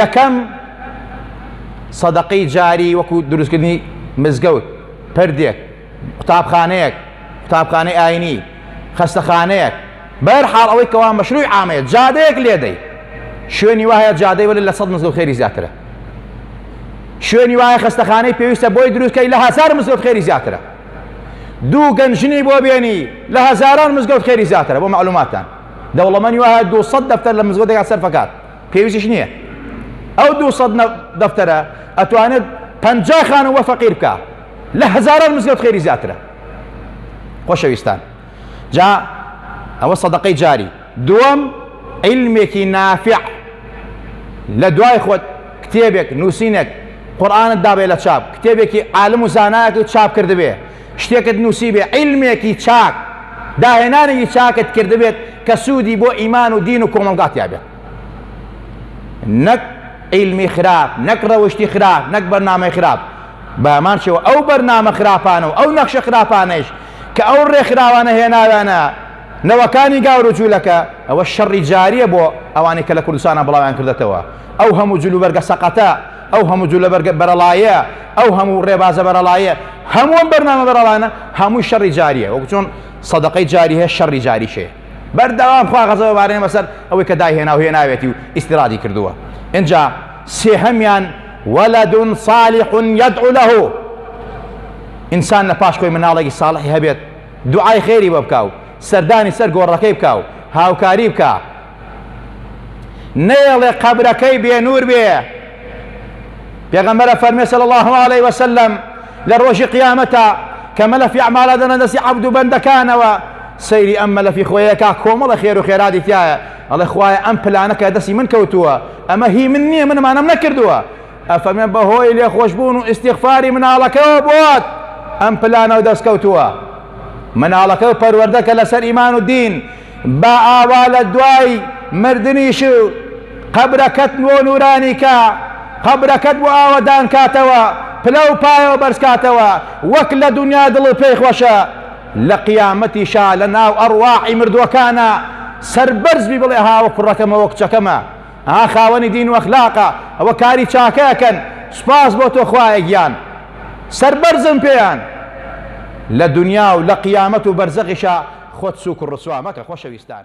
یەکەم، سەدەقەی جاری وەکو دروستکردنی مزگەوت، پردێک، قوتابخانەیەک، قوتابخانەی ئاینی، خەستەخانەیەک، بەهەر حاڵ ئەوەی کەوا مەشروعی عامەیە، جادەیەک لێدەی، شوێنی وا هەیە جادەی وەرە لە سەد مزگەوت خێری زیاترە، شوێنی وا هەیە خەستەخانەی پێویستە بۆی دروست کەی لە هەزار مزگەوت خێری زیاترە، دوو گەنج ژنی بۆ بێنی لە هەزاران مزگەوت خێری زیاترە، بۆ مەعلوماتتان دەوڵەمەنی وا هەیە دوو سەد دەفتەر لە مزگەوتێکا سەرفەکات. پێویستیش نییە ئەو دوو سەد دەفتەرە ئەتوانێت پەنجا خانم وە فەقیر بکە لە هەزاران مزگەوت خێری زیاترە خۆشەویستان جا ئەوە سەدەقەی جاری دووەم علمێکی نافع لە دوای خۆت کتێبێک نووسینێک قورآانت دابێ لە چاپ کتێبێکی عالم و زانایەتی چاپ کردبێ شتێکت نووسیبێ، عیلمێکی چاک، داهێنانێکی چاکت کردبێت کە سوودی بۆ ئیمان و دین و کۆمەڵگا تیا بێت. نەک عیلمی خراپ، نەک ڕەوشتی خراپ، نەک بەرنامەی خراپ. بە هەمان شێوە ئەو بەرنامە خراپانە و ئەو نەخشە خراپانەیش کە ئەو ڕێکخراوانە هێناویانە نەوەکانی گاور و جوولەکە، ئەوە شەڕی جارییە بۆ ئەوانەی کە لە کوردستانا بڵاویان کردەتەوە. ئەو هەموو جلوبەرگە سەقەتە، ئەو هەموو جولە بەرگە بەرەڵایە، ئەو هەموو ڕێبازە بەرەڵایە، هەموو ئەم بەرنامە بەرەڵانە، هەمووی شەڕی جارییە، وەکو چۆن سەدەقەی جاری هەیە، شەڕی جاریش هەیە. بەردەوام خوا غەزەبە بارێنێ بەسەر ئەوەی کە دایهێنا و هێناوێتی و ئیستیرادی کردووە. ئینجا سێهەمیان، ولد صالح یدعو له، ئینسان لە پاش خۆی مناڵێکی ساڵحی هەبێت دوعای خێری بۆ بکا و سەردانی سەر گۆڕەکەی بکا و هاوکاری بکا، نەیەڵێ قەبرەکەی بێنور بێ پێغەمبەرە فەرمێ صلی الله علیه وسلم لە ڕۆژی قیامەتە کە مەلەفی ئەعمالە دەنە دەستی عەبد و بەندەکانەوە سەیری ئەم مەلەفی خۆیەکە کۆمەڵە خێر و خێرادی تایە ئەڵێ خوایە ئەم پلانەکە دەستی من کەوتووە ئەمە هی من نییە منمانم نەکردووە ئەفەرمێ بەهۆی لێخۆشببوون و ئیسیغفاری مناڵەکەەوە بۆت ئەم پلانەوە دەستکەوتووە مناڵەکە و پەروەردەکە لەسەر ئیمان و دین با ئاوا لە دوای مردنیش قەبرەکەت بۆ نورانی کا، قەبرەکەت بۆ ئاوەدان کاتەوە، پلە و پایەوە بەرز کاتەوە، وەک لە دونیا دڵت پێی خۆشە، لە قیامەتیشا لە ناو ئەڕواحی مردووەکانا سەربەرز بی بڵێ هاوە کوڕەکەمە و کچەکەمە. ئا خاوەنی دین و ئەخلاقە ئەوە کاری چاکە ئەکەن سوپاس بۆ تۆ خوایە گیان سەربەرزم پێیان لە دونیا و لە قیامەت و بەرزەخیشا خۆت سوک و ڕسوا مەکە خۆشەویستان.